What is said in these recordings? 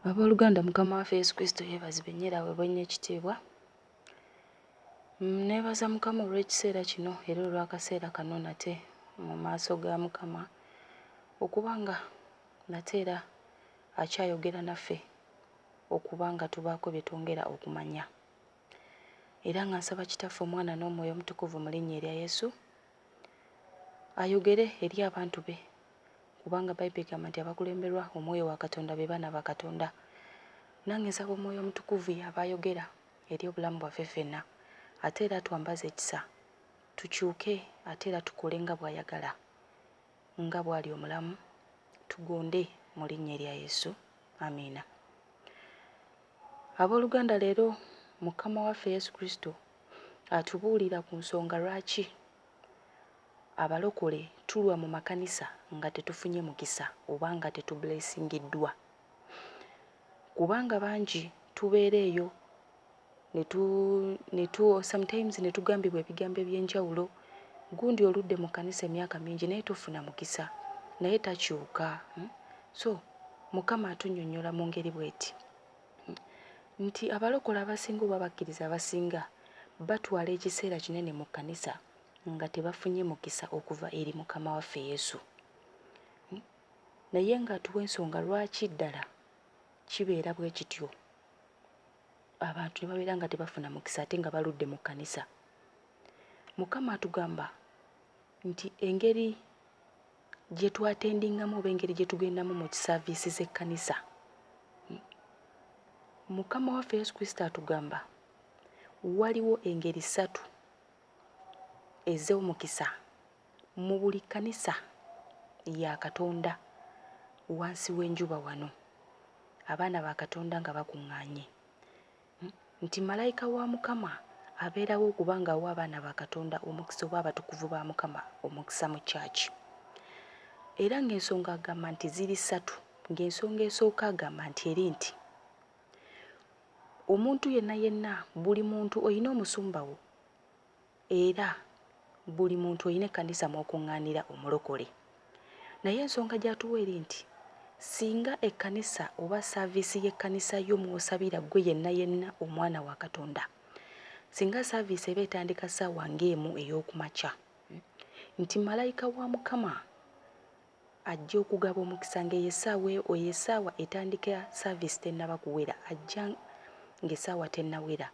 Abooluganda, Mukama waffe Yesu Kristo yeebazibwe nnyo era aweebwe nnyo ekitiibwa. Nneebaza Mukama olw'ekiseera kino era olw'akaseera kano nate mu maaso ga Mukama okuba nga nate era akyayogera naffe okuba nga tubaako bye twongera okumanya. Era nga nsaba Kitaffe, Omwana n'Omwoyo Omutukuvu mu linnya erya Yesu, Ayogere eri abantu be, kubanga Bible egamba nti abakulemberwa omwoyo wa Katonda be baana ba Katonda. Nange nsaba omwoyo omutukuvu y'aba ayogera eri obulamu bwaffe ffenna ate era atwambaze ekisa tukyuke ate era tukole nga bwayagala nga bwali omulamu tugonde mu linnya erya Yesu. Amiina. Aboluganda leero Mukama waffe Yesu Kristo atubuulira ku nsonga lwaki abalokole tulwa mu makanisa nga tetufunye mukisa oba nga tetublesingiddwa. Kubanga bangi tubeera eyo netu netu sometimes netugambibwa ebigambo ebyenjawulo gundi oludde mu kanisa emyaka mingi naye tofuna mukisa naye takyuka So Mukama atunyonyola mu ngeri bweti nti abalokole abasinga oba abakkiriza abasinga batwala ekiseera kinene mu kkanisa nga tebafunye mukisa okuva eri Mukama waffe Yesu. Naye ng'atuwa ensonga lwaki ddala kibeera bwe kityo abantu ne babeera nga tebafuna mukisa ate nga baludde mu kkanisa. Mukama atugamba nti engeri gye twatendingamu oba engeri gye tugendamu mu kisaaviisi z'ekkanisa. Mukama waffe Yesu Kristo atugamba waliwo engeri ssatu ez'omukisa mu buli kkanisa ya Katonda wansi w'enjuba wano, abaana ba Katonda nga bakuŋŋaanye. nti Malayika wa Mukama abeerawo okuba nga awa abaana ba Katonda omukisa oba abatukuvu ba Mukama omukisa mu church. Era nga ensonga agamba nti ziri satu nga ensonga esooka agamba nti eri nti omuntu yenna yenna buli muntu oyina omusumba wo Era buli muntu olina ekkanisa mw'okuŋŋaanira omulokole. Naye ensonga gy'atuwa eri nti, Singa ekkanisa oba ssaaviisi y'ekkanisa yo mw'osabira ggwe yenna yenna omwana wa Katonda, singa ssaaviisi eba etandika ssaawa ng'emu ey'oku makya, nti malayika wa Mukama, Ajja okugaba omukisa ng'eyo essaawa e, oyo essaawa etandika service tennaba kuwera. Ajja ng'essaawa tennawera.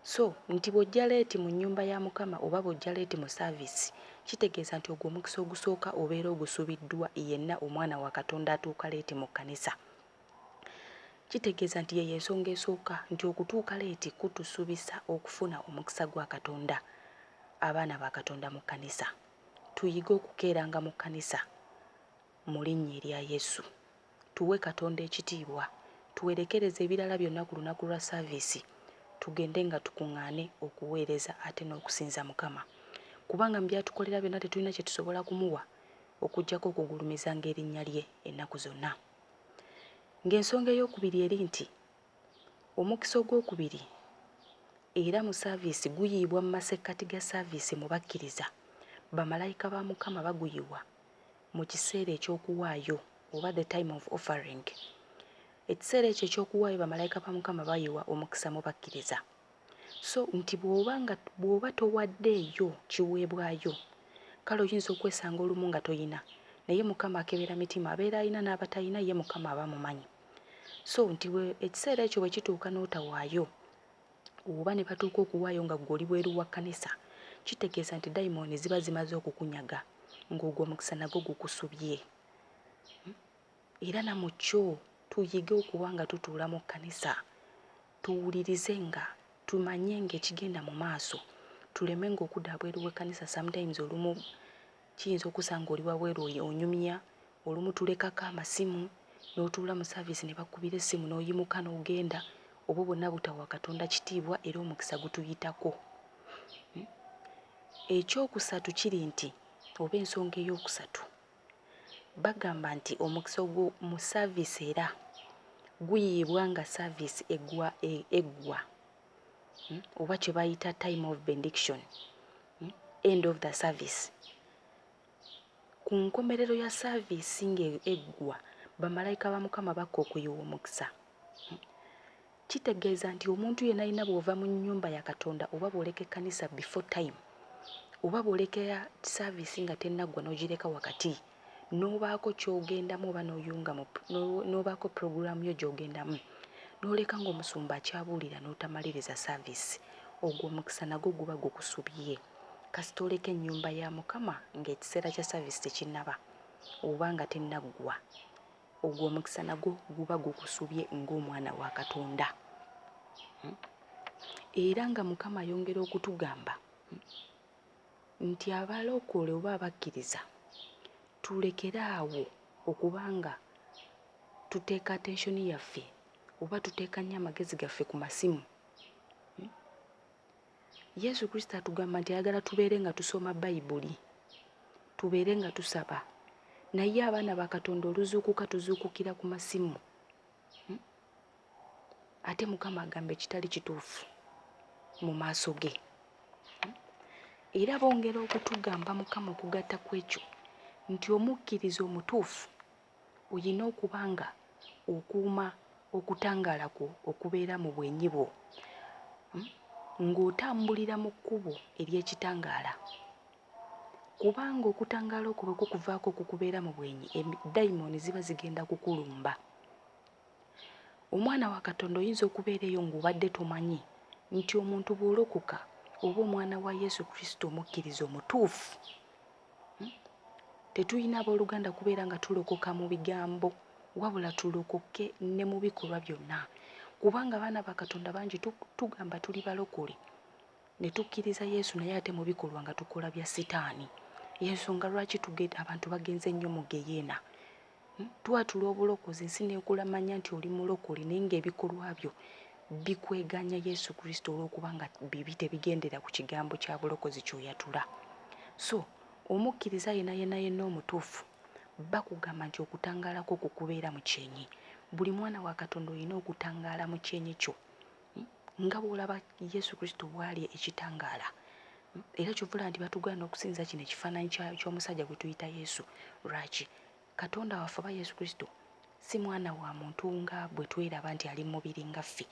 So, nti bw'ojja leeti mu nnyumba ya Mukama oba bw'ojja leeti mu service, kitegeeza nti ogwo omukisa ogusooka obeera ogusubiddwa yenna omwana wa Katonda atuuka leeti mu kkanisa. Kitegeeza nti ye y'ensonga esooka nti okutuuka leeti kutusubisa okufuna omukisa gwa Katonda, abaana ba Katonda mu kkanisa. tuyige okukeeranga mu kkanisa mu linnya erya Yesu. Tuwe Katonda ekitiibwa, tuwerekereze ebirala byonna ku lunaku lwa service tugende nga tukungaane okuweereza ate n'okusinza Mukama. Kubanga mu byatukolera byonna tetulina kye tusobola kumuwa okujjako okugulumizanga erinnya lye ennaku zonna. Ng'ensonga ey'okubiri eri nti Omukisa ogw'okubiri era mu saaviisi guyiibwa mu masekkati ga saaviisi mu bakkiriza. Bamalayika ba Mukama baguyiwa mu kiseera eky'okuwaayo oba the time of offering. Ekiseera ekyo eky'okuwaayo bamalayika ba Mukama bayiwa omukisa mu bakkiriza. So nti bw'oba nga bw'oba towaddeeyo kiweebwayo kale oyinza okwesanga olumu nga toyina naye Mukama akebera mitima abeera ayina n'abatayina ye Mukama aba amumanyi. so nti ekiseera ekyo bwe kituuka n'otawaayo oba ne batuuka okuwaayo nga ggwe oli bweru wa kkanisa kitegeeza nti dayimooni ziba zimaze okukunyaga ng'ogwo omukisa nagwo gukusubye hmm? era na mu kyo tuyige okuba nga tutuula mu kkanisa tuwulirize nga tumanye ng'ekigenda mu maaso tuleme ng'okuda abweru w'ekkanisa sometimes olumu Kiyinza okusa ng'oli wabweru onyumya, olumu tulekako amasimu n'otuula mu saaviisi ne bakukubira essimu n'oyimuka n'ogenda. Obwo bwonna butawa Katonda kitiibwa era omukisa gutuyitako. Ekyokusatu kiri nti oba ensonga ey'okusatu bagamba nti omukisa ogwo mu saaviisi era guyiibwa nga saaviisi eggwa. hmm, oba kye bayita time of bendiction hmm, end of the service ku nkomerero ya saaviisi ng'eggwa bamalayika ba mukama bakka okuyiwa omukisa hmm. kitegeeza nti omuntu yena alina bw'ova mu nnyumba ya katonda oba bw'oleka ekkanisa before time oba bw'olekera saaviisi nga tennaggwa n'ogireka wakati n'obaako ky'ogendamu oba n'oyunga mu n'obaako pulogulaamu yo gy'ogendamu n'oleka ng'omusumba akyabuulira n'otamaliriza saaviisi, ogwo omukisa nagwo guba gukusubye. Kasita oleka ennyumba ya Mukama ng'ekiseera kya saaviisi tekinnaba oba nga tennaggwa, ogwo omukisa nagwo guba gukusubye ng'omwana wa Katonda. Era nga Mukama ayongera okutugamba, nti abalokole oba abakkiriza tulekere awo okuba nga tuteeka attention yaffe oba tuteeka nnyo amagezi gaffe ku masimu hmm? yesu kristo atugamba nti ayagala tubeere nga tusoma bayibuli tubeere nga tusaba naye abaana ba katonda oluzuukuka tuzuukukira ku masimu hmm? ate mukama agamba ekitali kituufu mu maaso ge era bongera okutugamba mukama okugatta ku ekyo nti omukkiriza omutuufu olina okuba nga okuuma okutangaala kwo okubeera mu bwenyi bwo hmm? ng'otambulira mu kkubo ery'ekitangaala kubanga okutangaala okwo bwe kukuvaako okukubeera mu bwenyi dayimooni ziba zigenda kukulumba Omwana wa Katonda oyinza okubeera eyo ng'obadde tomanyi nti omuntu bw'olokoka oba omwana wa Yesu Kristo omukkiriza omutuufu. Hmm? Tetulina abooluganda kubeera nga tulokoka mu bigambo wabula tulokoke ne mu bikolwa byonna kubanga abaana ba Katonda bangi tugamba tuli balokole ne tukkiriza Yesu naye ate mu bikolwa nga tukola bya sitaani. Y'ensonga lwaki abantu bagenze nnyo mu geyeena Twatula obulokozi ensi n'ekulamanya nti oli mulokole naye ng'ebikolwa byo bikweganya Yesu Kristo olw'okuba nga bibi tebigendera ku kigambo kya bulokozi ky'oyatula. So omukkiriza yena yena yenna omutuufu bakugamba nti okutangaala kwo kukubeera mu kyenyi. Buli mwana wa Katonda olina okutangaala mu kyenyi kyo. Nga bw'olaba Yesu Kristo bw'ali ekitangaala, era ky'ova olaba nti batugaana okusinza kino ekifaananyi ky'omusajja gwe tuyita Yesu. Lwaki? Katonda waffe oba Yesu Kristo si mwana wa muntu nga bwe tweraba nti ali mu mubiri nga ffe.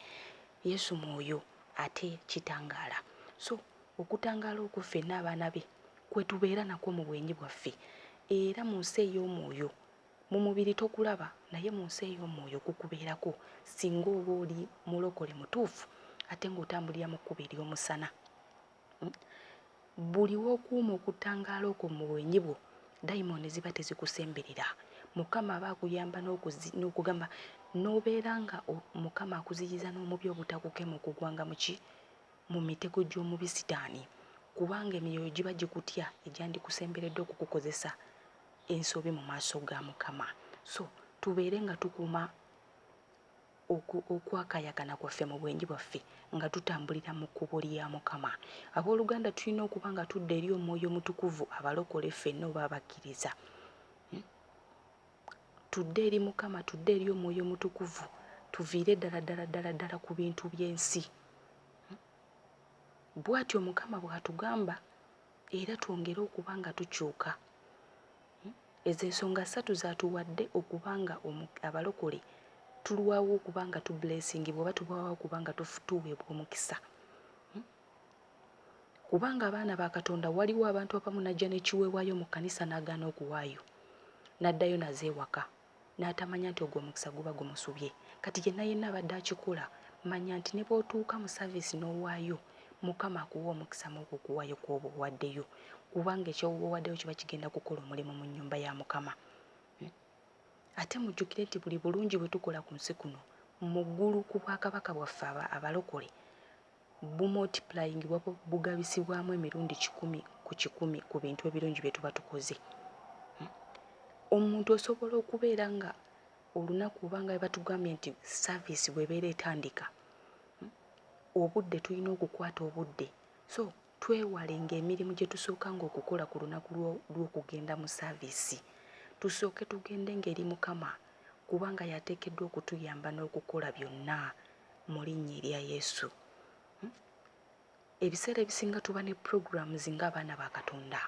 Yesu mwoyo ate kitangaala. So okutangaala okwo ffenna abaana be kwe tubeera nakwo mu bwenyi bwaffe era mu nsi ey'omwoyo Mu mubiri tokulaba naye mu nsi ey'omwoyo gukubeerako singa oba oli mulokole mutuufu ate ng'otambulira mu kkubo ery'omusana. Buli w'okuuma okutangaala okwo mu bwenyi bwo, dayimooni ziba tezikusemberera. Mukama aba akuyamba n'okugamba n'obeera nga Mukama akuziyiza n'omubi obutakukema okugwanga mu ki? Mu mitego gy'omubi Sitaani, kubanga emyoyo giba gikutya egyandikusemberedde okukukozesa. ensobi mu maaso ga Mukama. So tubeere nga tukuuma okwakayakana kwaffe mu bwenyi bwaffe nga tutambulira mu kkubo lya Mukama. Abooluganda, tulina okuba nga tudda eri omwoyo omutukuvu abalokole ffenna oba abakkiriza. Hmm? Tudde eri Mukama, tudde eri omwoyo omutukuvu, tuviire ddala ddala ddala ddala ku bintu by'ensi. Hmm? Bw'atyo Mukama bw'atugamba. era twongere okuba nga tukyuka. Ezo ensonga ssatu z'atuwadde okuba nga Abalokole tulwawo okuba nga tubuleesingibwa oba tulwawo okuba nga tuweebwa omukisa. Kubanga abaana ba Katonda waliwo abantu abamu n'ajja n'ekiweebwayo mu kkanisa n'agaana okuwaayo n'addayo nazo ewaka. n'atamanya nti ogwo omukisa guba gumusubye kati yenna yenna abadde akikola manya nti ne bw'otuuka mu saviisi n'owaayo Mukama akuwa omukisa mw'okwo okuwaayo kw'oba owaddeyo kubanga eky'oba owaddeyo kiba kigenda kukola omulimu mu nnyumba ya Mukama. Ate mujjukire nti buli bulungi bwe tukola ku nsi kuno mu ggulu ku bwakabaka bwaffe abalokole Bumultiplying buba bugabisibwamu emirundi kikumi ku kikumi ku bintu ebirungi bye tuba tukoze. Omuntu osobola okubeera nga olunaku oba nga bwe batugambye nti service bw'ebeera etandika, obudde tulina okukwata obudde. So Twewalenga emirimu gye tusookanga okukola ku lunaku lw'okugenda mu saaviisi. Tusooke tugendenga eri Mukama kubanga y'ateekeddwa okutuyamba n'okukola byonna mu linnya erya Yesu. Hmm? Ebiseera ebisinga tuba ne programs ng'abaana ba Katonda.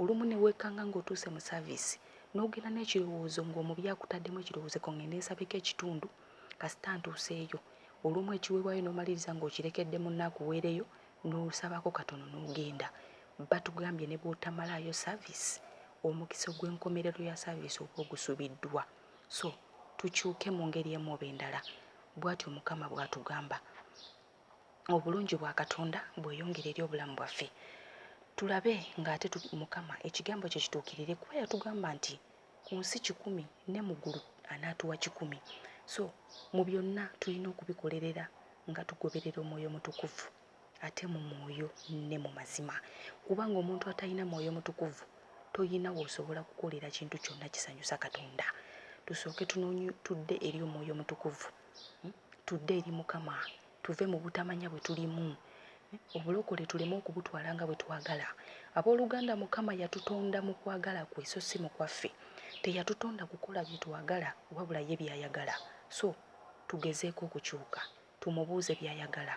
Olumu ne weekanga ng'otuuse mu saaviisi n'ogenda n'ekirowoozo ng'omubi akutaddemu ekirowoozo ko ng'ende nsabeko ekitundu kasita ntuuseeyo. Olumu ekiweebwayo n'omaliriza ng'okirekedde munno akuweereyo nosabako katono nogenda batugambye nebwotamalayo service omukisa ogwenkomerero ya service oba ogusubiddwa so tukyuke mungeri emu oba endala bwatyo mukama bwatugamba obulungi bwa katonda bweyongere eri obulamu bwaffe tulabe nga ate mukama ekigambo kye kituukirire kuba yatugamba nti ku nsi kikumi ne mu ggulu anaatuwa kikumi. So mu byonna tulina okubikolerera nga tugoberera omwoyo omutukuvu ate mu mwoyo ne mu mazima, kubanga omuntu atalina mwoyo mutukuvu tolina w'osobola kukolera kintu kyonna kisanyusa Katonda. Tusooke tudde eri omwoyo omutukuvu, hmm? tudde eri Mukama tuve mu butamanya bwe tulimu obulokole tuleme okubutwala nga bwe twagala abooluganda mukama yatutonda mu kwagala kwe so si mu kwaffe teyatutonda kukola bye twagala wabula ye by'ayagala so tugezeeko okukyuka tumubuuze by'ayagala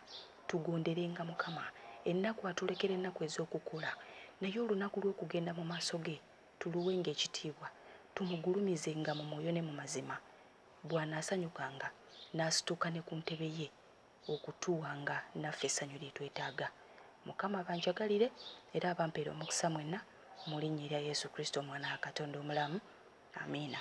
tugonderenga mukama ennaku atulekera ennaku ez'okukola naye olunaku lw'okugenda mu maaso ge tuluwenga ekitiibwa tumugulumizenga mu mwoyo ne mu mazima bw'anaasanyukanga n'asituuka ne ku ntebe ye okutuwa nga naffe essanyu lye twetaaga. Mukama abanjagalire era abampere omukisa mwenna mu linnya erya Yesu Kristo Omwana wa Katonda omulamu. Amiina.